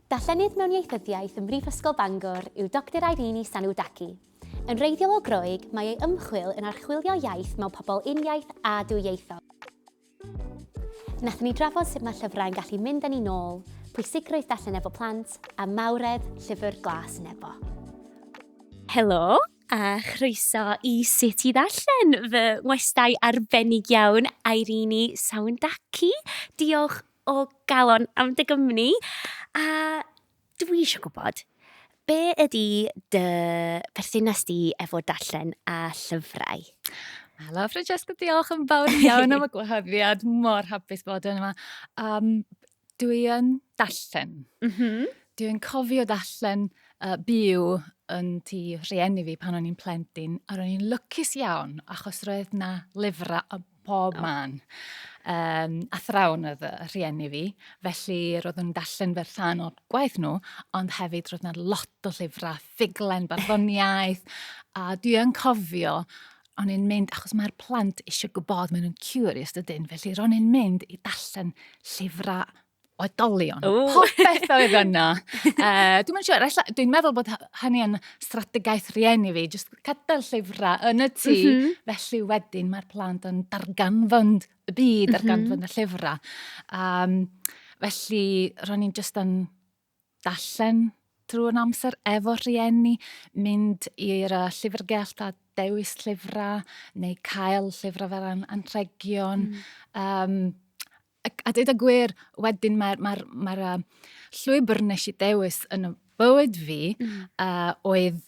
Darllenydd mewn Ieithyddiaeth ym Mhrifysgol Bangor yw Doctor Irene Sanoudaki. Yn wreiddiol o Groeg, mae ei ymchwil yn archwilio iaith mewn pobl uniaith a dwyieithog. Wnaethon ni drafod sut mae llyfrau yn gallu mynd â ni nôl, pwysigrwydd darllen efo plant, a mawredd Llyfr Glas Nebo. Helo, a chroeso i Sut i Ddarllen, fy ngwestai arbennig iawn, Irene Sanoudaki. Diolch o galon am dy gwmni, a dwi isio gwybod, be ydy dy berthynas di efo darllen a llyfrau? Helo Francesca, diolch yn fawr iawn am y gwahoddiad, mor hapus bod yma. Um, dwi yn darllen. Mm -hmm. Dwi'n cofio darllen uh, byw yn tu rhieni fi pan o'n i'n plentyn, a ro'n i'n lwcus iawn, achos roedd na lyfrau pob man. Um, athrawn oedd y rhieni fi, felly roedd nhw'n darllen fer rhan o'r gwaith nhw, ond hefyd roedd yna lot o llyfrau, ffuglen, barddoniaeth, a dwi yn cofio o'n i'n mynd, achos mae'r plant eisiau gwybod, maen nhw'n curious dydyn, felly ro'n i'n mynd i darllen llyfrau oedolion. Ooh. Popeth oedd yna. uh, dwi'n siŵr, sure, dwi'n meddwl bod hynny yn strategaeth rieni fi, jyst cadael llyfrau yn y tŷ, mm -hmm. felly wedyn mae'r plant yn darganfod y byd, darganfod mm -hmm. y llyfrau. Um, felly, ro'n i'n jyst yn darllen drwy'r amser efo rhieni, mynd i'r uh, llyfrgell a dewis llyfrau, neu cael llyfrau fel an anrhegion. Mm. Um, a, a dweud y gwir, wedyn mae'r mae mae uh, llwybr nes i dewis yn y bywyd fi mm. uh, oedd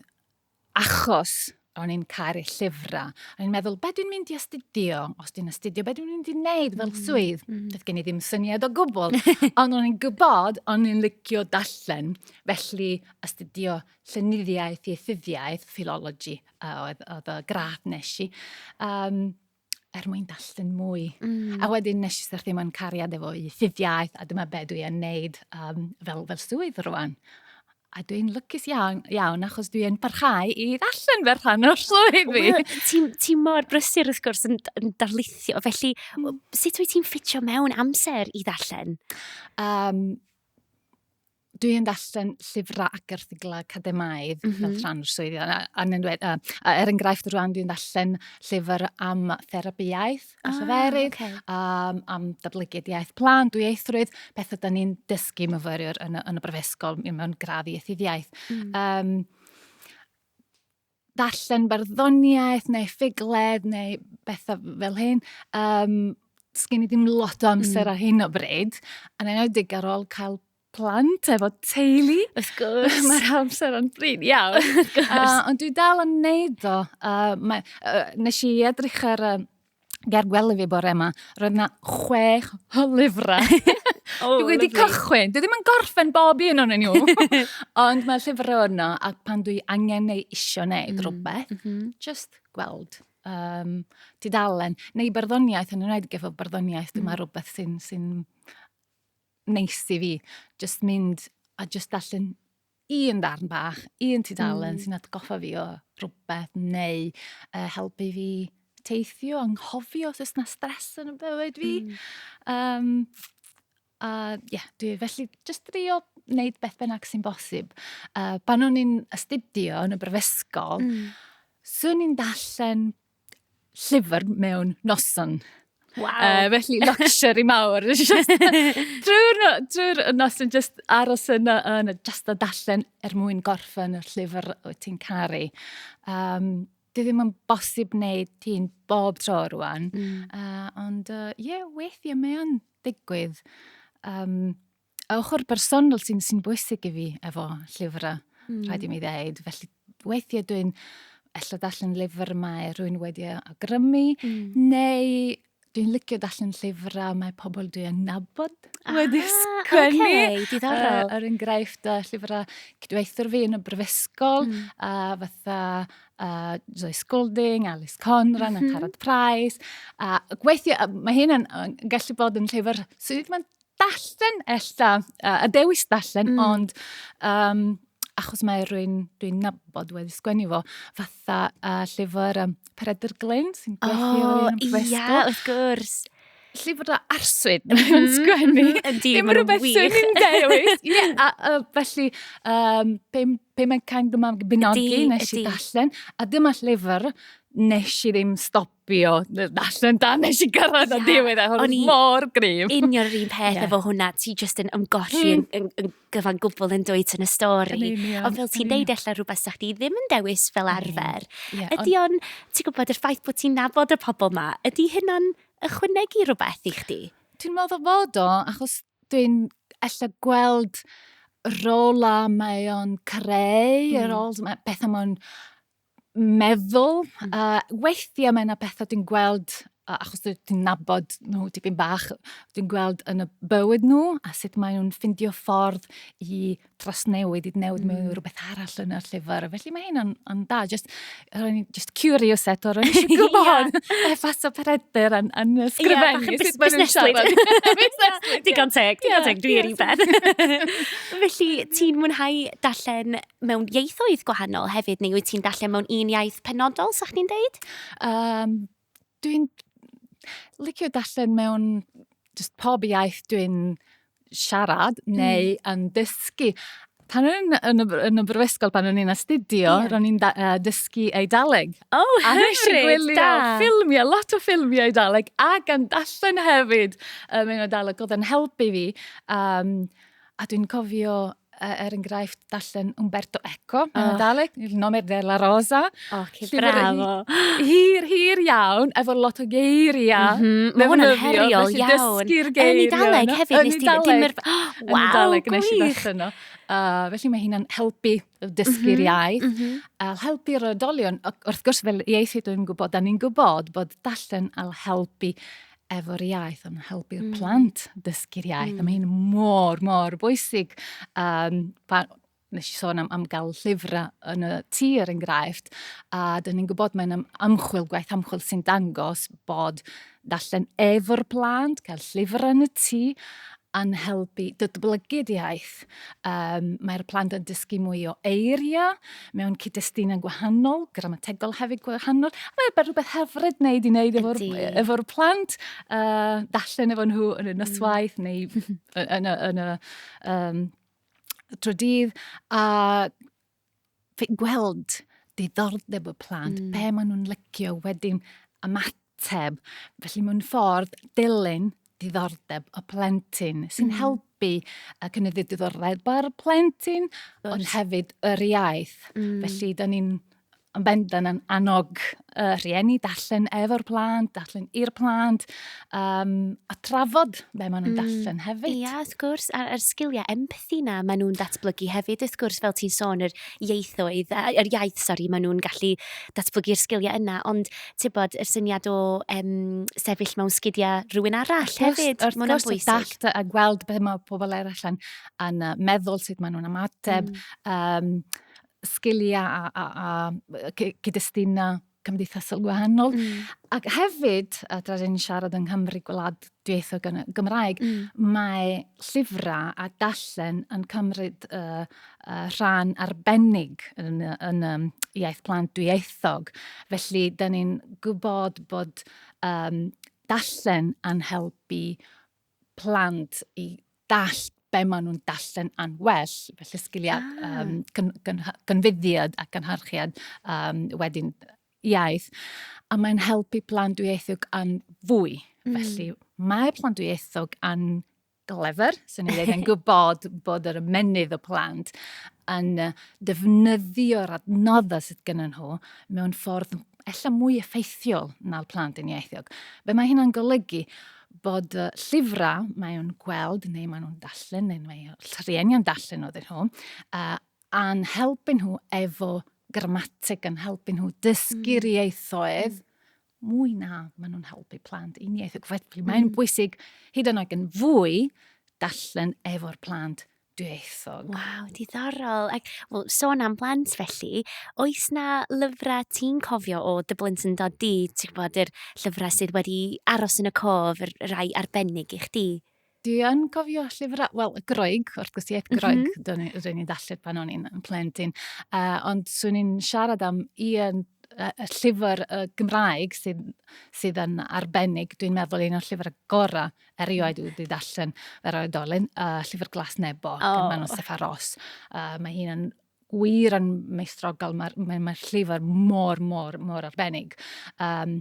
achos o'n i'n caru llyfrau. O'n i'n meddwl, be dwi'n mynd i astudio? Os dwi'n astudio, be dwi'n mynd i wneud fel mm, swydd? Mm -hmm. Doedd gen i ddim syniad o gwbl. Ond o'n i'n gwybod, o'n i'n licio dallen. Felly, astudio llenyddiaeth, ieithyddiaeth, ffilologi, oedd, oedd y gradd nes i. Um, er mwyn darllen mwy. Mm. A wedyn nes i syrthio mewn cariad efo i ffiddiaeth, a dyma be dwi yn neud um, fel, fel swydd rwan. A dwi'n lycus iawn, iawn achos dwi'n parhau i ddarllen fer rhan o'r swydd fi. Well, ti'n ti mor brysur wrth gwrs yn, yn darlithio, felly mm. sut wyt ti'n ffitio mewn amser i ddarllen? Um, dwi yn darllen llyfrau ac erthiglau academaidd mm -hmm. fel rhan o'r swyddi. A, a, a, a er enghraifft rwan dwi'n darllen llyfr am therapiaeth a ah, lleferydd, okay. um, am datblygiad iaith plan, dwi eithrwydd, pethau da ni'n dysgu myfyriwr yn, yn y brifysgol mewn gradd i ethiddiaeth. Mm. Um, ddarllen barddoniaeth neu ffugled neu bethau fel hyn. Um, Sgyn i ddim lot o amser mm. ar hyn o bryd, yn enwedig ar ôl cael plant efo teulu. Wrth gwrs. Mae'r amser yn bryd iawn. uh, ond dwi dal yn neud o. Uh, mae, uh, nes i edrych ar uh, ger gwely fi bore yma, roedd yna chwech o lyfrau. oh, dwi wedi cychwyn. Dwi ddim yn gorffen bob un o'n nhw. Ond mae llyfrau yno, a pan dwi angen neu isio neu mm. rhywbeth, mm -hmm. just gweld um, tudalen, neu barddoniaeth, yn ymwneud gyda barddoniaeth, dyma mm. rhywbeth sy'n sy neis i fi. Just mynd a just allan un darn bach, un tudalen mm. sy'n atgoffa fi o rhywbeth neu uh, helpu fi teithio, anghofio os oes na stres yn y bywyd fi. Mm. Um, a ie, yeah, dwi felly just drio wneud beth bynnag sy'n bosib. Uh, pan o'n i'n astudio yn y brifysgol, mm. swn i'n dallen llyfr mewn noson. Wow. Uh, felly luxury mawr. drwy'r no, drwy nos yn just aros yna yn just a dallen er mwyn gorffen y llyfr wyt ti'n caru. Um, dwi ddim yn bosib wneud ti'n bob tro rwan. Mm. Uh, ond ie, uh, yeah, weithiau mae o'n digwydd. Um, A ochr bersonol sy'n sy bwysig i fi efo llyfrau, mm. rhaid i mi ddeud. Felly weithiau dwi'n ella darllen llyfr mae rhywun wedi agrymu, mm. neu dwi'n licio darllen llyfrau mae pobl dwi'n nabod ah, wedi sgwennu. Okay, diddorol. Uh, er enghraifft, uh, llyfrau cydweithwyr fi yn y brifysgol, mm. a uh, fatha uh, Zoe Scolding, Alice Conran, mm -hmm. a Carad Price. A gweithio, mae hyn yn, yn gallu bod yn llyfr sydd mae'n Dallen ella, uh, a dewis dallen, mm. ond um, achos mae rwy'n dwi nabod wedi sgwennu fo, fatha uh, llyfr um, Peredr Glyn sy'n gweithio oh, yn Bristol. O, ia, wrth gwrs llyfr o arswyd yn mhm. sgwennu. Ydy, mae'n rhywbeth sy'n ni'n dewis. Ie, a, a felly, um, pe, pe mae'n cael dyma bynogi nes i dallen, a dyma llyfr nes i ddim stop fi o, allan dan nes i gyrraedd yeah. diwedd, a hwn mor grif. Union yr un peth yeah. efo hwnna, ti just yn ymgolli mm. yn, yn, yn gyfan gwbl yn dweud yn y stori. Ond fel ti'n deud allan rhywbeth sa'ch ti ddim yn dewis fel arfer. Yeah, ydy o'n, ti'n gwybod, yr ffaith bod ti'n nabod y pobl ma, ydy hynna'n ychwanegu rhywbeth i chdi? Dwi'n meddwl fod o, achos dwi'n ella gweld rola mae o'n creu, mm. yr hmm. old, beth am o'n meddwl. Mm. Uh, weithiau mae yna bethau dwi'n gweld, uh, achos dwi'n nabod nhw dipyn bach, dwi'n gweld yn y bywyd nhw a sut maen nhw'n ffindio ffordd i trosnewid, i newid mm. mewn rhywbeth arall yn y llyfr. Felly mae hyn yn da, just, ro'n i'n just curious eto, ro'n i'n siŵr gwybod efas o peredr yn, yn sgrifennu. Ie, bach yn busneslyd. Digon teg, digon teg, dwi'n un beth. Felly, ti'n mwynhau darllen mewn ieithoedd gwahanol hefyd, neu wyt ti'n darllen mewn un iaith penodol, sa'ch ni'n deud? Um, dwi'n licio darllen mewn just pob iaith dwi'n siarad hmm. neu mm. yn dysgu. Pan o'n i'n yn, yn y brifysgol, pan o'n i'n astudio, yeah. ro'n i'n uh, dysgu Eidaleg. O, oh, hyfryd, da! ffilmiau, lot o ffilmiau Eidaleg, a gan darllen hefyd um, yn Eidaleg, oedd yn helpu fi. Um, a dwi'n cofio uh, er enghraifft, darllen Umberto Eco, oh. yn y Daleg, Il nome della rosa. O, oh, ci bravo. Hir, hir iawn, efo lot o geiriau. Mm -hmm. Mae hwnna'n heriol iawn. Yn y Daleg hefyd, nes ti ddim yr... Yn y Daleg, nes i ddechrau yno. Uh, felly mae hynna'n helpu dysgu'r mm -hmm. iaith. Mm -hmm. A helpu'r oedolion, wrth gwrs fel ieithydd dwi'n gwybod, da ni'n gwybod bod dallen al helpu efo'r iaith, ond helpu'r mm. plant dysgu'r iaith. Mm. A mae hyn mor, mor bwysig. Um, pa, nes i sôn am, am gael llyfrau yn y tŷ er enghraifft, a dyn ni'n gwybod mae'n am, amchwil, gwaith amchwil sy'n dangos bod darllen efo'r plant, cael llyfr yn y tŷ, yn helpu datblygu'r iaith. Um, mae'r plant yn dysgu mwy o eiriau mewn cyd-destunau gwahanol, gramategol hefyd gwahanol. Mae'n fe rhywbeth hyfryd wneud i wneud efo'r efo plant, uh, dallen efo nhw yn y noswaith mm. neu yn y, yn y um, trydydd. A gweld diddordeb y plant, mm. be maen nhw'n lycio wedyn ymateb. Felly mae'n ffordd dilyn diddordeb y plentyn sy'n mm. helpu y cynyddu diddordeb ar y plentyn, ond hefyd yr iaith. Mm. Felly, da ni'n yn bendant yn annog y rhieni, darllen efo'r plant, darllen i'r plant, um, a trafod be maen nhw'n mm. darllen hefyd. Ia, yeah, wrth gwrs, a'r, ar sgiliau empathi na maen nhw'n datblygu hefyd, wrth gwrs, fel ti'n sôn, yr ieithoedd, yr iaith, sori, maen nhw'n gallu datblygu'r sgiliau yna, ond ti'n bod, yr syniad o um, sefyll mewn sgidiau rhywun arall wrth hefyd, wrth maen nhw'n bwysig. Wrth gwrs, a gweld beth mae pobl eraill yn, yn meddwl, sut maen nhw'n ymateb, mm. um, sgiliau a, a, a cyd-destunau cymdeithasol gwahanol. Mm. Ac hefyd, a tra ni'n siarad yng Nghymru gwlad dweithio Gymraeg, mm. mae llyfrau a dallen yn cymryd uh, uh, rhan arbennig yn, yn um, iaith plant dwyieithog. Felly, da ni'n gwybod bod um, dallen yn helpu plant i dallt be maen nhw'n darllen yn well, felly sgiliau ah. um, gyn, gyn, gynfyddiad a gynharchiad um, wedyn iaith, a mae'n helpu plant dwyieithog yn fwy. Mm. Felly mae plant dwyieithog yn glefer, sy'n ei ddweud yn gwybod bod yr ymenydd o plant yn defnyddio'r adnoddau sydd gen nhw mewn ffordd ella mwy effeithiol na'r plant yn ieithiog. Be mae hynna'n golygu? bod y llyfrau mae nhw'n gweld neu mae nhw'n darllen neu mae rhieni yn darllen oedd nhw uh, a'n helpu nhw efo grammatig yn helpu nhw dysgu'r mm. ieithoedd mm. mwy na maen nhw'n helpu plant un ieithoedd. Felly mae'n mm. bwysig hyd yn oed yn fwy darllen efo'r plant dwyieithog. Waw, diddorol. Ac, wel, sôn am blant felly, oes na lyfrau ti'n cofio o dy blentyndod di, ti'n gwybod, yr llyfrau sydd wedi aros yn y cof, yr rai arbennig i chdi? Dwi yn cofio llyfrau, wel, y Groeg, wrth gwrs, iaith mhm. Groeg, mm -hmm. dwi ni'n ddarllen pan o'n i'n plentyn. Uh, ond swn i'n siarad am un y llyfr y Gymraeg sydd, sydd yn arbennig, dwi'n meddwl un o'r llyfrau gorau erioed wedi darllen yr oedolyn, uh, Llyfr Glas Nebo, oh. gan Manon Steffa Ross. Uh, mae hi'n yn wir yn meistrogol, mae'r mae, mae llyfr mor, mor, mor arbennig. Um,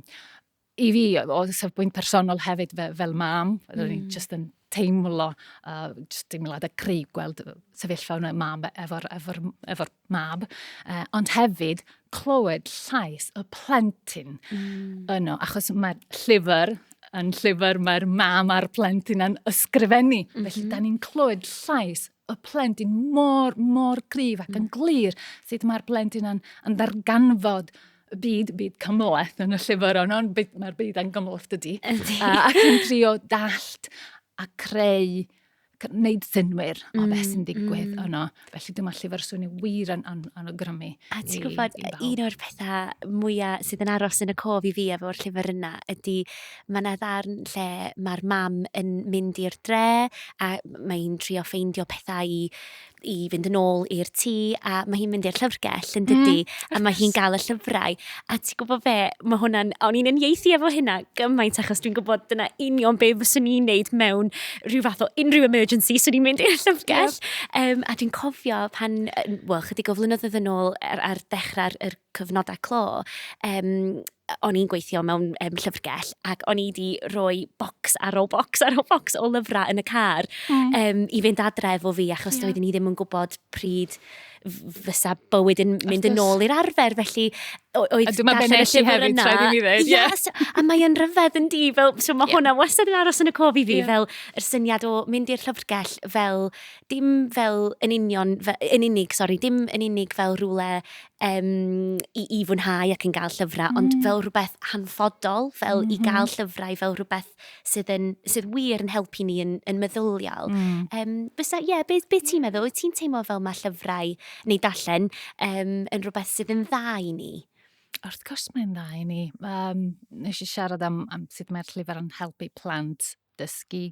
I fi, o safbwynt personol hefyd fe, fel mam, mm. ro'n i'n hmm. just yn teimlo, uh, just teimlad y cri gweld sefyllfa hwnna mam efo'r efo, efo mab, uh, ond hefyd clywed llais y plentyn mm. yno, achos mae'r llyfr yn llyfr mae'r mam a'r plentyn yn ysgrifennu. Mm -hmm. Felly, mhm. da ni'n clywed llais y plentyn mor, mor gryf ac yn mm. glir sut mae'r plentyn yn, yn ddarganfod y byd, byd cymleth yn y llyfr ond ond mae'r byd yn gymleth dydy. Ac yn trio dallt a creu gwneud synwyr mm, o beth sy'n mm, digwydd mm. yno. Felly dyma lle fe'r swnio wir yn an anogrymu. A ti'n gwybod, un o'r pethau mwyaf sydd yn aros yn y cof i fi efo'r llyfr yna ydy mae yna ddarn lle mae'r mam yn mynd i'r dre a mae'n trio ffeindio pethau i i fynd yn ôl i'r tŷ a mae hi'n mynd i'r llyfrgell yn dydy mm, a mae hi'n gael y llyfrau a ti'n gwybod fe, mae hwnna'n, o'n i'n unieithu efo hynna gymaint achos dwi'n gwybod dyna union be fyswn i'n neud mewn rhyw fath o unrhyw emergency swn i'n mynd i'r llyfrgell yep. um, a dwi'n cofio pan, wel chydig o flynyddoedd yn ôl ar, ar dechrau'r cyfnodau clo um, o'n i'n gweithio mewn um, llyfrgell ac o'n i wedi rhoi bocs ar ôl bocs ar ôl bocs o lyfrau yn y car mm. um, i fynd adre efo fi achos yeah. doeddwn i ddim yn gwybod pryd fysa bywyd yn mynd yn ôl i'r arfer, felly oedd dyma fe nes i hefyd, tra ddim i ddweud. Yes, a mae'n rhyfedd yn di, fel, so mae yeah. hwnna wastad yn aros yn y cof i fi, yeah. fel yr syniad o mynd i'r llyfrgell fel, dim fel yn union, fel, yn unig, sori, dim yn unig fel rhywle um, i, i fwynhau ac yn gael llyfrau, mm. ond fel rhywbeth hanfodol, fel mm -hmm. i gael mm-hmm. llyfrau, fel rhywbeth sydd, yn, sydd wir yn helpu ni yn, yn meddyliol. Mm. Um, fysa, ie, yeah, be, be ti'n meddwl? Wyt ti'n teimlo fel mae llyfrau neu darllen um, yn rhywbeth sydd yn dda i ni? Wrth gwrs mae'n dda i ni. Um, nes i siarad am, am sut mae'r llyfr yn helpu plant dysgu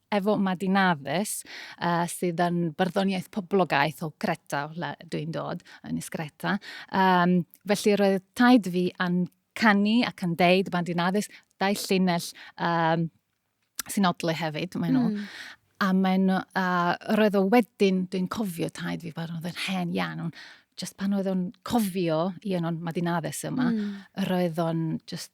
Efo Madi Nafis, uh, sydd yn barddoniaeth poblogaeth o Greta, lle dwi'n dod, yn Nis Greta. Um, felly roedd taid fi yn canu ac yn deud Madi Nafis, dau llinell um, sy'n odlu hefyd, maen nhw. Mm. A maen nhw, uh, roedd o wedyn, dwi'n cofio taid fi, roedd yn hen iawn, ond just pan oedd o'n cofio i yno'n Madi Nafis yma, mm. roedd o'n just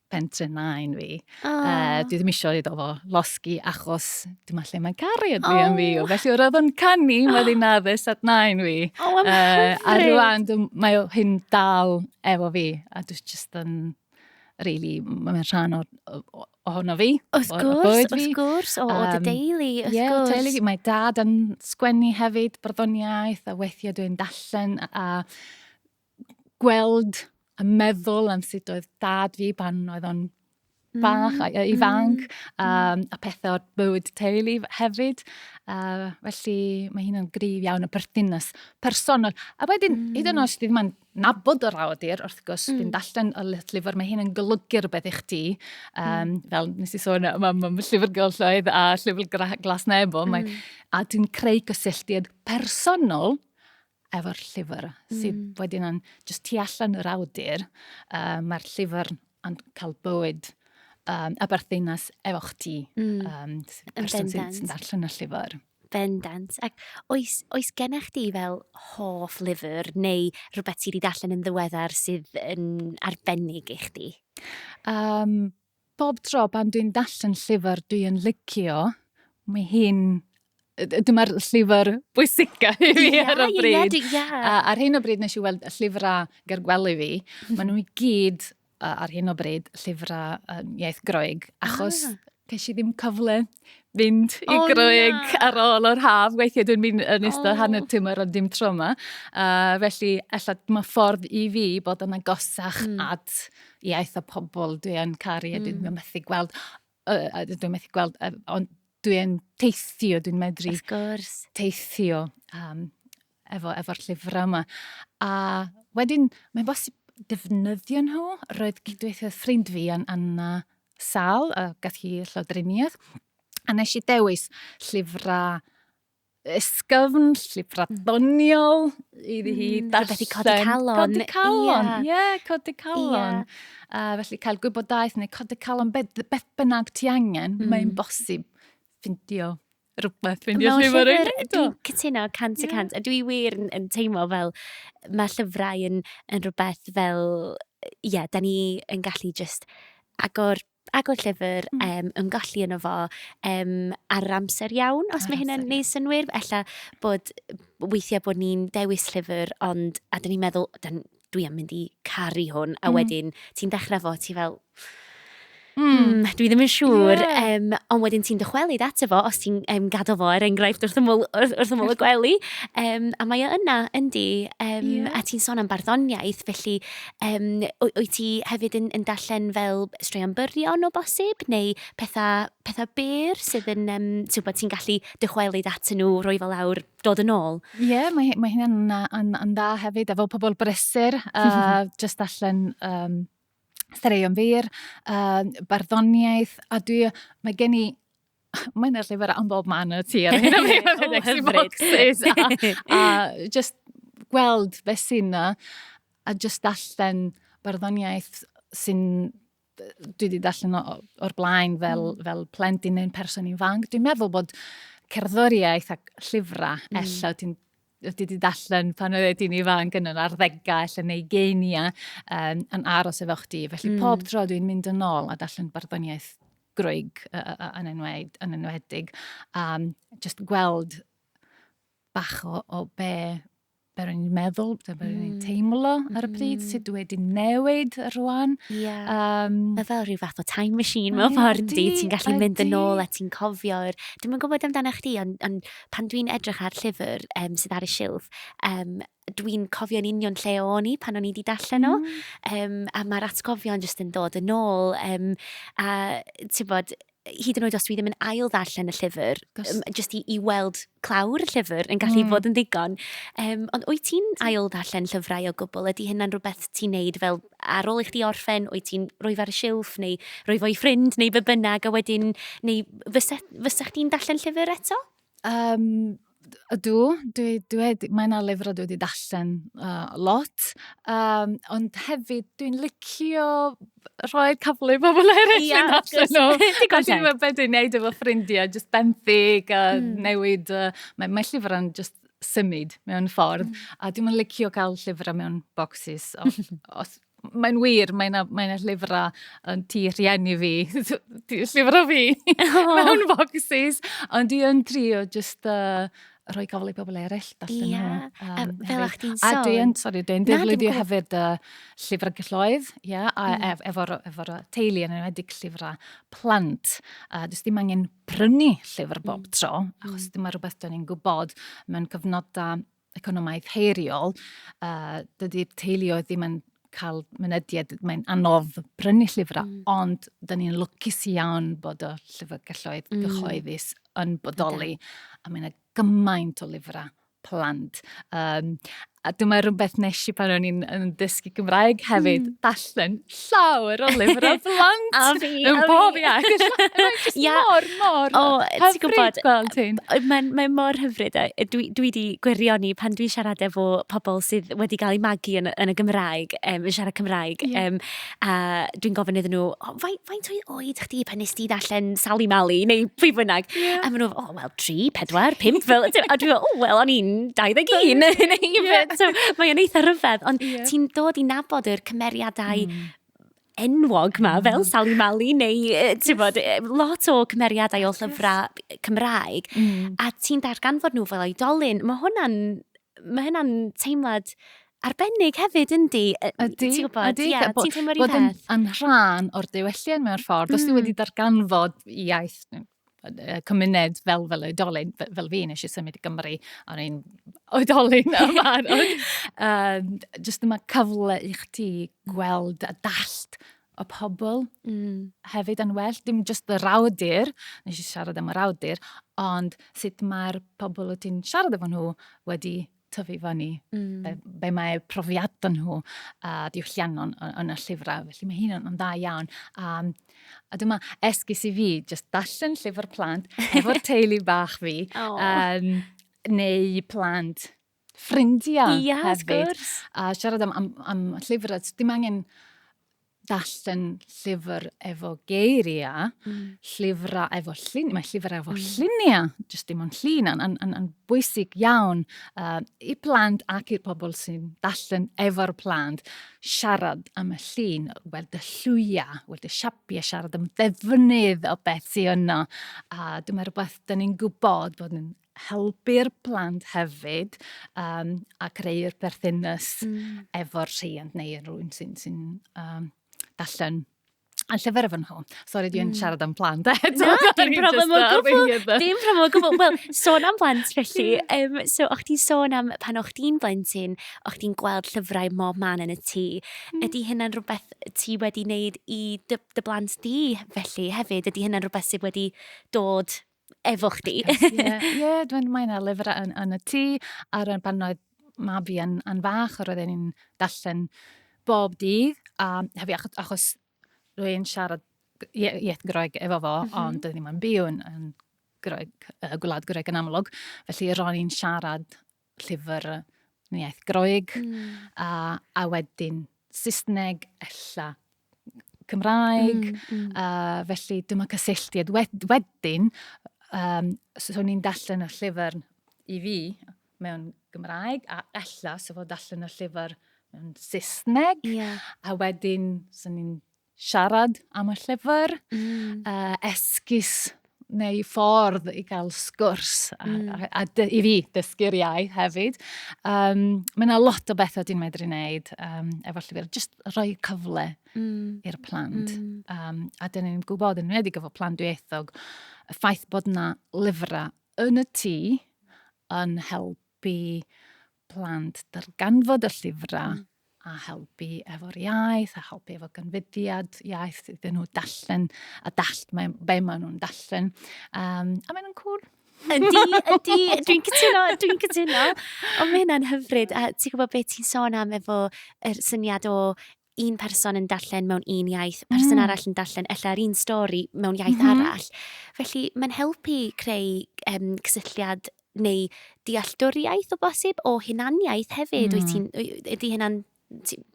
pentre nain fi. Oh. Uh, dwi ddim eisiau iddo fo losgi achos dyma lle mae'n caru yn oh. fi. Felly oedd o'n canu oh. wedyn addys at nain fi. Oh, I'm uh, a rwan mae hyn dal efo fi. A dwi'n just yn, really, mae'n rhan o, o, ohono fi. Wrth gwrs, wrth gwrs, o, o dy deulu, wrth yeah, gwrs. Teulu, mae dad yn sgwennu hefyd, barddoniaeth, a weithiau dwi'n dallen, a, a gweld a meddwl am sut oedd dad fi pan oedd o'n bach a mm, ifanc, mm, um, a pethau o'r bywyd teulu hefyd. Uh, felly mae hynna'n grif iawn y perthynas personol. A wedyn, mm. hyd yn oes ddim yn nabod yr awydir, wrth gwrs, mm. fi'n dallen y llyfr, mae hyn yn golygu rhywbeth i chdi. Um, mm. Fel nes i sôn, mae ma, ma llyfr gylchoedd a llyfr glas nebo, mm. mae, a dwi'n creu cysylltiad personol efo'r llyfr mm. sydd wedyn yn just tu allan yr awdur. Uh, Mae'r llyfr yn cael bywyd um, a berthynas efo chdi. Mm. Um, person sy'n sy darllen y llyfr. Bendant. Ac oes, oes gennych chi fel hoff lyfr neu rhywbeth sydd wedi darllen yn ddiweddar sydd yn arbennig i chdi? Um, Bob tro pan dwi'n darllen llyfr dwi yn licio, mae hi'n dyma'r llyfr bwysica i fi yeah, ar y bryd. Yeah, yeah. A, ar hyn o bryd nes i weld y llyfrau ger gwely fi. Mm. Maen nhw i gyd uh, ar hyn o bryd llyfrau um, iaith groeg, achos ah. ces i ddim cyfle mynd i oh, groeg na. ar ôl yr haf. Weithiau dwi'n mynd yn ystod oh. hanner tymor ond dim tro yma. Uh, felly, efallai mae ffordd i fi bod yn agosach mm. at iaith a pobl dwi yn caru a mm. dwi'n methu gweld, uh, dwi'n methu gweld, uh, ond dwi'n teithio, dwi'n medru teithio um, efo, efo'r llyfrau yma. A wedyn, mae'n bosib defnyddio nhw. Roedd cydweithio ffrind fi yn Anna Sal, a gath hi llawdriniaeth. A nes i dewis llyfrau ysgafn llifra doniol iddi hi mm, darllen. Felly codi calon. Codi calon, ie, yeah. codi calon. Yeah. Uh, felly cael gwybodaeth neu codi calon beth, beth bynnag ti angen, mm. mae'n bosib ffindio rhywbeth fynd i'r llyfr yn gwneud o. Dwi'n cytuno 100 y 100, a dwi wir yn, yn teimlo fel mae llyfrau yn, yn rhywbeth fel, ie, yeah, da ni yn gallu just agor agor llyfr, mm. um, ymgolli yno fo um, ar amser iawn, os mae hynny'n neud synwyr. Ella bod weithiau bod ni'n dewis llyfr, ond a dyn ni'n meddwl, dwi am mynd i caru hwn, a mm. wedyn ti'n dechrau fo, ti fel, Mm, dwi ddim yn siŵr, yeah. um, ond wedyn ti'n dychwelyd ato fo, os ti'n um, gadw fo er enghraifft wrth ymwyl, wrth, wrth ymwyl y gwely, um, a mae o yna, yndi, um, yeah. a ti'n sôn am barddoniaeth, felly Yym, wy- wyt ti hefyd yn yn darllen fel straeon byrion o bosib, neu pethau pethau byr sydd yn yym t'wbod ti'n gallu dychwelyd atyn nhw, rhoi fe lawr, dod yn ôl? Ie, mae hi- mae hynna'n na- yn yn dda hefyd efo pobl brysur a jyst darllen yym straeon byr, yy barddoniaeth a dwi yy mae gen i mae yna llyfr am bob man yn y tu ar hyn o bryd. Hyfryd. A, a just gweld beth sy'n na, a just darllen barddoniaeth sy'n dwi wedi darllen o'r blaen fel, mm. fel plentyn neu'n person ifanc. Dwi'n meddwl bod cerddoriaeth a llyfrau, mm. ella ti'n ydy di dallen pan oedd ti'n ifanc yn yr arddegau allan neu geinia um, yn aros efo chdi. Felly mm. pob tro dwi'n mynd yn ôl a dallen barddoniaeth groig yn, enwed, yn enwedig. Um, just gweld bach o, o be be rwy'n meddwl, be rwy'n mm. teimlo ar y mm. pryd, sut dwi wedi newid rwan. Yeah. Um, Mae fel rhyw fath o time machine mewn ffordd di, ti'n gallu mynd yn ôl a ti'n cofio'r... Dwi'n gwybod amdano chdi, ond on, pan dwi'n edrych ar llyfr um, sydd ar y silff, um, dwi'n cofio'n union lle o'n i pan o'n i wedi darllen o. Mm. Um, a mae'r atgofion jyst yn dod yn ôl. Um, a ti'n bod, hyd yn oed os dwi ddim yn ail ddarllen y llyfr, um, jyst i, i weld clawr y llyfr yn gallu mm. bod yn ddigon. Um, ond wyt ti'n ail ddarllen llyfrau o gwbl? Ydy hynna'n rhywbeth ti'n neud fel ar ôl i chdi orffen, wyt ti'n rhoi fe ar y silff neu rhoi fo i ffrind neu be bynnag a wedyn, neu fysa, fysa chdi'n darllen llyfr eto? Um, ydw, dwi, dwi, mae yna lyfrau dwi wedi darllen uh, lot, um, ond hefyd dwi'n licio rhoi cyfle i bobl eraill yeah, yn allan nhw. A dwi'n meddwl beth dwi'n neud efo ffrindiau, jyst benthyg a mm. newid. Uh, mae, mae llyfrau'n just symud mewn ffordd, mm. a dwi'n licio cael llyfrau mewn bocsys. Os, mae'n wir, mae yna mae llyfrau yn tu rhieni fi, llyfrau fi, oh. mewn bocsys, ond dwi yn trio just uh, rhoi gofal i bobl eraill darllen yeah. nhw. Um, fel a'ch ti'n sôn. A dwi yn, sori, dwi'n defnyddio hefyd uh, llyfrau gylloedd, yeah, a mm. ef, efo'r efo teulu yn enwedig llyfrau plant. Uh, Does dim angen prynu llyfr bob mm. tro, mm. achos mm. dyma rhywbeth dyn ni'n gwybod mewn cyfnodau economaidd heiriol, uh, dydy'r teuluoedd ddim yn cael mynediad, mae'n anodd prynu llyfrau, mm. ond dyn ni'n lwcus iawn bod y llyfrgelloedd mm. gyhoeddus yn bodoli, okay. a mae'n gymaint o lyfrau plant. Um, a dyma rhywbeth nes i pan o'n i'n dysgu Gymraeg hefyd, mm. dallen llawer o lyfr o blant. a fi, a fi. Bob iawn. Ia. Mor, mor. O, ti'n gwybod. Mae'n mae mor hyfryd. E. Dwi, dwi di gwirioni pan dwi'n siarad efo pobl sydd wedi cael ei magu yn, yn y Gymraeg, um, yn siarad Cymraeg. Yeah. Um, a dwi'n gofyn iddyn nhw, oh, faint o'i oed chdi pan nes ti ddarllen Sally Mally neu pwy bynnag? Yeah. A maen nhw, oh, wel, tri, pedwar, pimp, fel, a dwi'n meddwl, o, wel, o'n i'n 21, yeah. so, mae o'n eitha rhyfedd, ond yeah. ti'n dod i nabod yr cymeriadau mm. enwog ma, fel mm. Sally Mali, neu, ti'n bod, lot o cymeriadau o llyfrau Cymraeg, mm. a ti'n darganfod nhw fel oedolyn, mae hwnna'n, mae hwnna'n teimlad arbennig hefyd, yndi? Ydy, ti'n gwybod? Ydy, yeah, bod, ti'n bod yn, yn rhan o'r diwylliant mewn ffordd. Mm. Os ti wedi darganfod iaith, cymuned fel fel oedolyn, fel fi, nes i symud i Gymru, a o'n i'n oedolyn yn barod. um, just yma cyfle i chdi gweld a dallt y pobl mm. hefyd yn well. Dim just y rawdur, nes i siarad am y rawdur, ond sut mae'r pobl o ti'n siarad efo nhw wedi tyfu fyny, mm. be, be mae profiadau nhw a diwylliannol yn y llyfrau. Felly mae hyn yn dda iawn. A, a dyma esgus i fi, just darllen llyfr plant efo'r teulu bach fi. Oh. Um, neu plant ffrindiau yeah, hefyd. A siarad am, am, am llyfrau, dim angen darllen llyfr efo geiriau, mm. llyfrau efo lluniau, mae llyfr efo mm. lluniau, jyst dim ond llun, yn, yn, yn, yn bwysig iawn uh, i plant ac i'r pobl sy'n darllen efo'r plant, siarad am y llun, weld y llwyau, weld y siapiau, siarad am ddefnydd o beth sy'n yno. A dyma rhywbeth dyn ni'n gwybod bod yn helpu'r plant hefyd um, a creu'r berthynas mm. efo'r rhiant neu rhywun sy'n sy um, darllen A llyfr efo nhw. Sori, dwi'n mm. siarad am plant. Na, dim problem o gwbl. Dim problem o gwbl. Wel, sôn am plant felly. Um, so, o'ch ti'n sôn am pan o'ch ti'n blentyn, o'ch ti'n gweld llyfrau mob man yn y tŷ. Mm. Ydy hynna'n rhywbeth ti wedi wneud i dy, dy blant di felly hefyd? Ydy hynna'n rhywbeth sydd wedi dod efo chdi. Ie, yeah, dwi'n mynd ar lyfr yn, yn y tŷ, ar y pan oedd mab fi yn, yn fach, roedd e'n darllen bob dydd, a hefyd achos, achos rwy'n siarad iaith Groeg efo fo, mm -hmm. ond dwi ddim yn byw yn, yn Groeg, uh, gwlad Groeg yn amlwg, felly ro'n i'n siarad llyfr yn iaith Groeg, mm. a, a wedyn Saesneg, ella Cymraeg, mm, mm. a felly dyma cysylltiad. Wedyn, um, so, so ni'n darllen y llyfr i fi mewn Gymraeg, a ella so fod darllen y llyfr mewn Saesneg, yeah. a wedyn so ni'n siarad am y llyfr, mm. uh, esgus neu ffordd i gael sgwrs a, mm. a, a, a i fi dysgu'r iaith hefyd. Um, mae yna lot o bethau dwi'n medru wneud um, efo llyfr, jyst rhoi cyfle mm. i'r plant. Mm. Um, a dyn ni'n gwybod yn wneud i gyfo plant dwyethog, y ffaith bod yna lyfrau yn y tŷ yn helpu plant darganfod y llyfrau mm. a helpu efo'r iaith, a helpu efo gynfydiad iaith iddyn nhw dallen a dall, mae, be maen nhw'n dallen. Um, a maen nhw'n cool. Ydy, ydy, dwi'n cytuno, dwi'n cytuno. Ond mae hynna'n hyfryd. A ti'n gwybod beth ti'n sôn am efo yr syniad o un person yn darllen mewn un iaith, person mm. arall yn darllen ella yr un stori mewn iaith mm -hmm. arall. Felly mae'n helpu creu um, cysylltiad neu dealltwriaeth o bosib o hunaniaeth hefyd. Mm. Wyt ti'n, ydy hynna'n,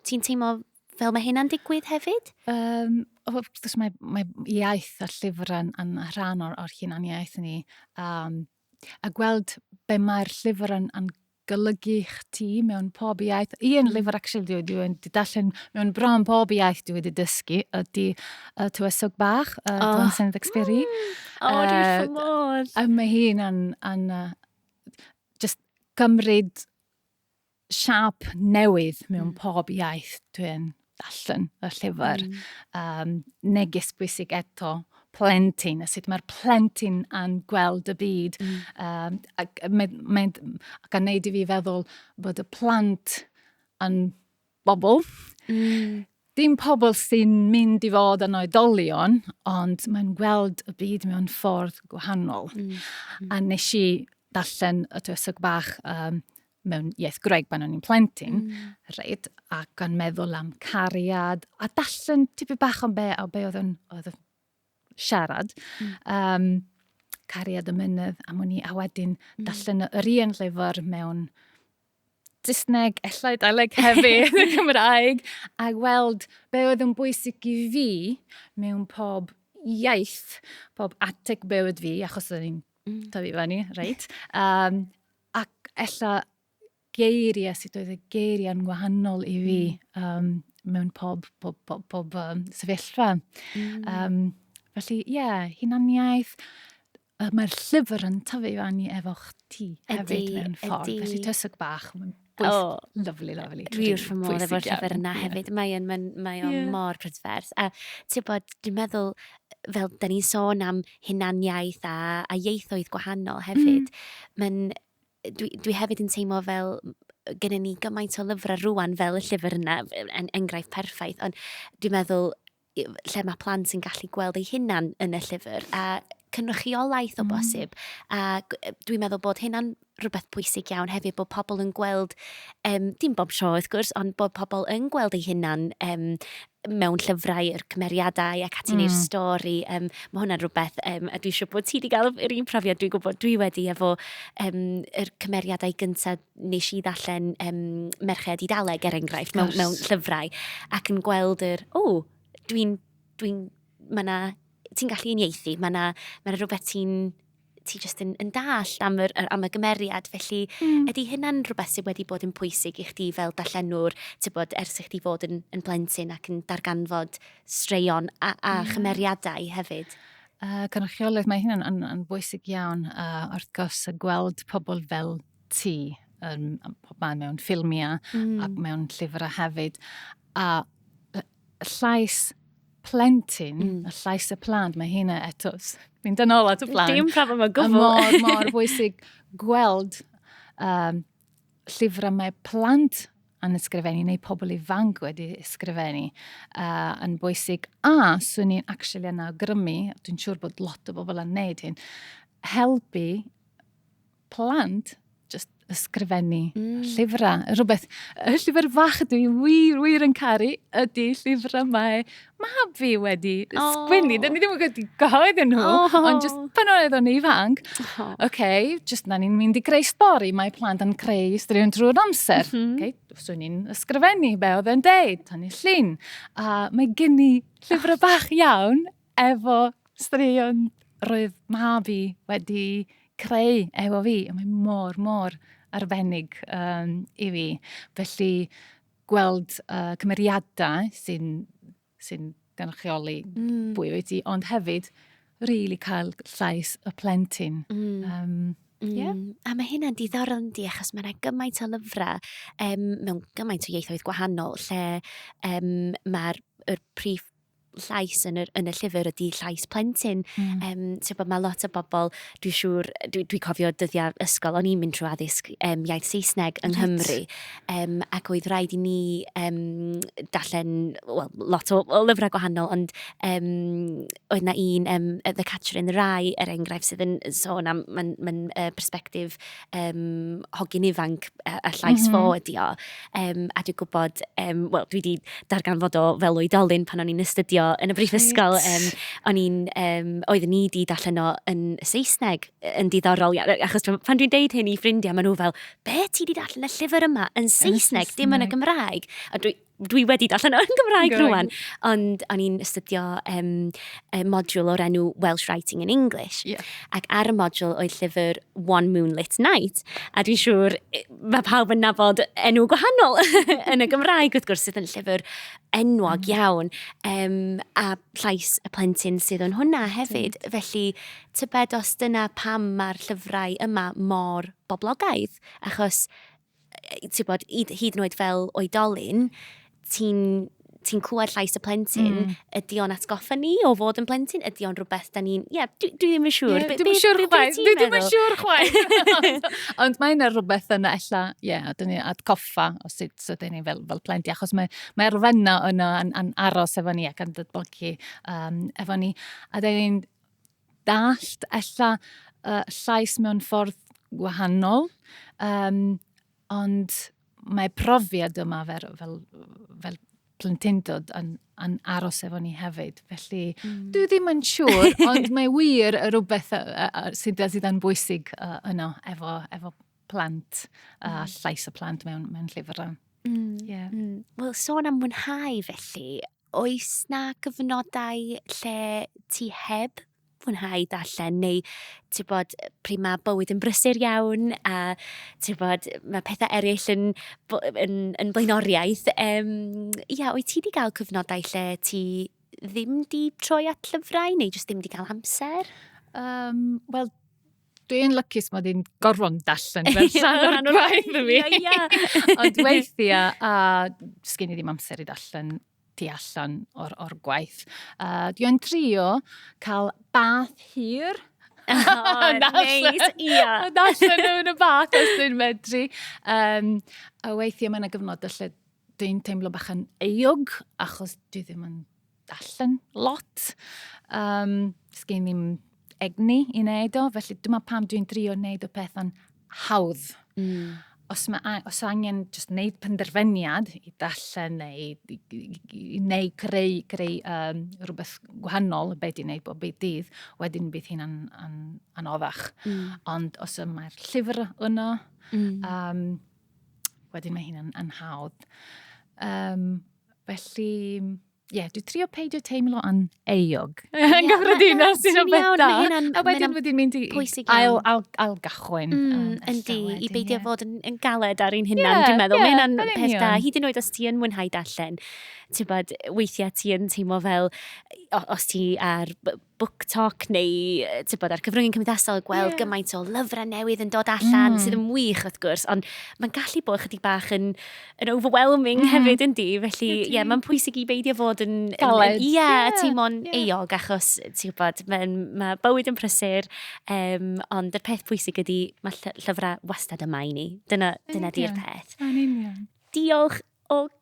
ti'n teimlo fel mae hynna'n digwydd hefyd? Um, wrth gwrs mae, mae iaith a llyfrau yn, yn rhan o'r, or hunaniaeth ni. Um, a gweld be mae'r llyfr yn, yn golygu chdi mewn pob iaith. I yn llyfr, actually, dwi, dwi wedi darllen mewn bron pob iaith dwi wedi dysgu ydy uh, Tywysog Bach, uh, oh. Don Senedd Experi. O, oh, dwi'n uh, modd. A mae hi'n an, an, uh, just cymryd siap newydd mewn mm. pob iaith dwi'n darllen y llyfr. Mm. Um, neges bwysig eto, plentyn, a sut mae'r plentyn yn gweld y byd. Mm. Um, ac, mae, mae, ac yn neud i fi feddwl bod y plant yn bobl. Mm. Dim pobl sy'n mynd i fod yn oedolion, ond mae'n gweld y byd mewn ffordd gwahanol. Mm. mm. A nes i darllen y dwysog bach um, mewn iaith Greg pan o'n i'n plentyn, mm. reit, ac yn meddwl am cariad, a darllen tipyn bach am be, o be oedd yn, oedd yn siarad. Mm. Um, cariad y mynydd am wn i, a wedyn mm. darllen yr un llyfr mewn Saesneg, ellai Daleg hefyd, y Cymraeg, a gweld be oedd yn bwysig i fi mewn pob iaith, pob ateg be oedd fi, achos o'n i'n mm. tyfu fan ni, reit? Um, ac ella geiriau, sut oedd y geiriau yn wahanol i fi um, mewn pob, pob, pob, pob um, sefyllfa. Mm. Um, felly, ie, yeah, hunaniaeth, uh, mae'r llyfr yn tyfu i fannu efo chdi hefyd mewn ffordd. Ydy. Felly tyswg bach, mae'n bwys, oh, lovely, lovely. Dwi wrth fy modd efo'r llyfr yna hefyd. Yeah. Mae'n mae, mae o'n yeah. mor prydferth. A ti'n bod, dwi'n meddwl, fel da ni'n sôn am hunaniaeth a, a ieithoedd gwahanol hefyd, mm. mae'n dwi, dwi hefyd yn teimlo fel gyda ni gymaint o lyfrau rwan fel y llyfr yna, en, enghraifft perffaith, ond dwi'n meddwl lle mae plant yn gallu gweld eu hunan yn y llyfr a cynrychiolaeth o mm. bosib. Mm. A dwi'n meddwl bod hynna'n rhywbeth pwysig iawn hefyd, bod pobl yn gweld, um, dim bob tro wrth gwrs, ond bod pobl yn gweld eu hunan um, mewn llyfrau, yr cymeriadau ac ati mm. neu'r stori. Um, mae hwnna'n rhywbeth, um, a dwi eisiau bod ti wedi cael yr un profiad dwi'n gwybod dwi wedi efo um, yr cymeriadau gyntaf nes i ddarllen um, Merched i Daleg er enghraifft mewn, mewn llyfrau ac yn gweld yr, o, oh, dwi'n, dwi'n, mae yna, ti'n gallu unieithu, mae yna, mae yna rhywbeth ti'n ti jyst yn, yn dallt am, yr, am y gymeriad. Felly, mm. ydy hynna'n rhywbeth sydd wedi bod yn pwysig i chdi fel darllenwr, bod, ers i chdi fod yn, yn blentyn ac yn darganfod straeon a, a mm. chymeriadau hefyd? Uh, cynrychiolaeth, mae hynny'n yn, yn bwysig iawn. Uh, wrth gwrs, gweld pobl fel ti um, pob man mewn ffilmiau mm. ac mewn llyfrau hefyd. A llais plentyn, mm. y llais y plant, mae hynna eto, mynd yn ôl at y plant. Dim problem o gwbl. Mor, mor bwysig gweld um, llyfrau mae plant yn ysgrifennu neu pobl ifanc wedi ysgrifennu uh, yn bwysig. A swn i'n actually yn awgrymu, dwi'n siŵr bod lot o bobl yn neud hyn, helpu plant, just ysgrifennu mm. llyfrau. Rhywbeth, y llyfr fach dwi wir, wir yn caru ydy llyfrau mae mab fi wedi oh. sgwini. Dyn ni ddim yn gwybod gyhoedd nhw, oh. ond just pan oedd o'n ifanc. Oh. okay, just na ni'n mynd i greu stori, mae plant yn creu stori yn drwy'r amser. Mm -hmm. okay, so ni'n ysgrifennu be oedd e'n deud, tan ni llun. A mae gen i llyfrau bach iawn Efo straeon roedd mab i wedi creu efo fi, a mae mor, mor arbennig um, i fi. Felly, gweld uh, cymeriadau sy'n sy gynrychioli mm. bwy wyt ti, ond hefyd, rili really cael llais y plentyn. Mm. Um, Mm. Yeah. A mae hynna'n diddorol yn di, achos mae yna gymaint o lyfrau um, mewn gymaint o ieithoedd gwahanol lle um, mae'r er prif llais yn yr, yn y llyfr ydy llais plentyn. Mm. Um, so, bod mae lot o bobl, dwi'n siŵr, dwi'n dwi cofio dyddiau ysgol, o'n i'n mynd trwy addysg um, iaith Saesneg yng Nghymru, um, ac oedd rhaid i ni um, darllen well, lot o, o lyfrau gwahanol, ond um, oedd na un, um, The Catcher in the Rye, er enghraifft, sydd yn sôn am, mae'n ma uh, perspektif yym hogyn ifanc, y y llais fo ydy o. Yym a dwi'n gwybod, yym wel dwi 'di darganfod o fel oedolyn pan o'n i'n astudio yn y brifysgol... Reit. ...yym o'n i'n yym oeddwn ni 'di darllen o yn Saesneg yn ddiddorol ia- achos pan pan dwi'n deud hyn i ffrindiau maen nhw fel "be ti 'di darllen y llyfr yma yn Saesneg dim yn y Gymraeg" a dwi dwi wedi darllen o yn Gymraeg rwan, ond o'n i'n astudio um, y modiwl o'r enw Welsh Writing in English. Yeah. Ac ar y modiwl oedd llyfr One Moonlit Night, a dwi'n siŵr mae pawb yn nabod enw gwahanol yn y Gymraeg, wrth gwrs, sydd yn llyfr enwog mm. iawn, um, a llais y plentyn sydd yn hwnna hefyd. Mm. Felly, tybed os dyna pam mae'r llyfrau yma mor boblogaidd, achos ti'n bod, hyd yn oed fel oedolyn, ti'n ti'n clywed llais y plentyn, mm. ydy o'n atgoffa ni o fod yn plentyn, ydy o'n rhywbeth da ni'n... Ie, yeah, dwi, dwi ddim yn siŵr. Yeah, dwi ddim yn siŵr chwaith. Dwi ddim yn siŵr chwaith. Ond mae yna rhywbeth yna, ella, ie, yeah, dyn ni'n atgoffa o sut so dyn ni fel, fel plentyn, achos mae, mae arfenna yna yn, yn aros efo ni ac yn dydbogi um, efo ni. A dyn ni'n dallt ella uh, llais mewn ffordd wahanol, um, ond mae profiad yma fel, fel, fel plentyndod yn, yn aros efo ni hefyd. Felly, mm. dwi ddim yn siŵr, ond mae wir y rhywbeth sydd sydd yn bwysig uh, yno efo, efo plant, a uh, llais y plant mewn, mewn llyfrau. Mm. Yeah. Mm. Wel, sôn am mwynhau felly, oes 'na gyfnodau lle ti heb fwynhau darllen neu ti'n gwybod, pryd mae bywyd yn brysur iawn a ti'n gwybod, mae pethe eraill yn b- yn yn flaenoriaeth, yym ia, wyt ti 'di cael cyfnodau lle ti ddim 'di troi at llyfrau neu jyst ddim 'di cael amser? Yym wel dwi'n lycus mod i'n gorfod darllen fel rhan o'r gwaith i mi. Ond weithiau, a sgyn i ddim amser i darllen tu allan o'r, or gwaith. Uh, dwi'n trio cael bath hir. Oh, neis, ia. Darllen nhw yn y bath os dwi'n medru. Um, a weithiau mae'n yna gyfnod lle dwi'n teimlo bach yn eog achos dwi ddim yn darllen lot. Um, Sgyn ddim egni i wneud o, felly dyma pam dwi'n drio wneud y peth yn hawdd. Mm. Os, ma, os angen just wneud penderfyniad i darllen neu, neu creu, creu um, rhywbeth gwahanol beth di'n gwneud bob byd dydd, wedyn bydd hi'n an, an, anoddach. Mm. Ond os mae'r llyfr yno, mm. um, wedyn mae hyn yn hawdd. Um, felly, ie, yeah, dwi trio peidio teimlo yn eog. Yn gyffredinol sy'n o'n beth da. A wedyn wedi mynd i ail, ail, ail gychwyn. Mm, yndi, i beidio fod yn, yn galed ar ein hunan, dwi'n meddwl. Mae'n hynna'n peth da. Hyd yn oed os ti yn mwynhau darllen, ti'n bod, weithiau ti yn teimlo fel, os ti ar BookTok neu tybod, ar cyfryngau cymdeithasol gweld yeah. gymaint o lyfrau newydd yn dod allan mm. sydd yn wych wrth gwrs, ond mae'n gallu bod chydig bach yn, yn overwhelming mm. hefyd yn di, felly ie, yeah, mae'n pwysig i beidio fod yn... Galed. Ie, yeah, yeah. teimlo'n yeah. eog achos ti'n gwybod, mae, ma bywyd yn prysur, um, ond y peth pwysig ydy mae llyfrau wastad yma i ni. Dyna, dyna di'r peth. Yn union. Diolch o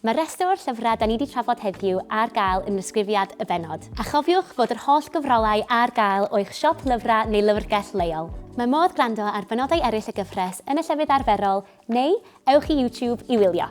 Mae rhestr o'r llyfrau 'da ni 'di trafod heddiw ar gael yn ddisgrifiad y bennod. A chofiwch fod yr holl gyfrolau ar gael o'ch siop lyfrau neu lyfrgell leol. Mae modd gwrando ar benodau eraill y gyfres yn y llefydd arferol neu ewch i YouTube i wylio.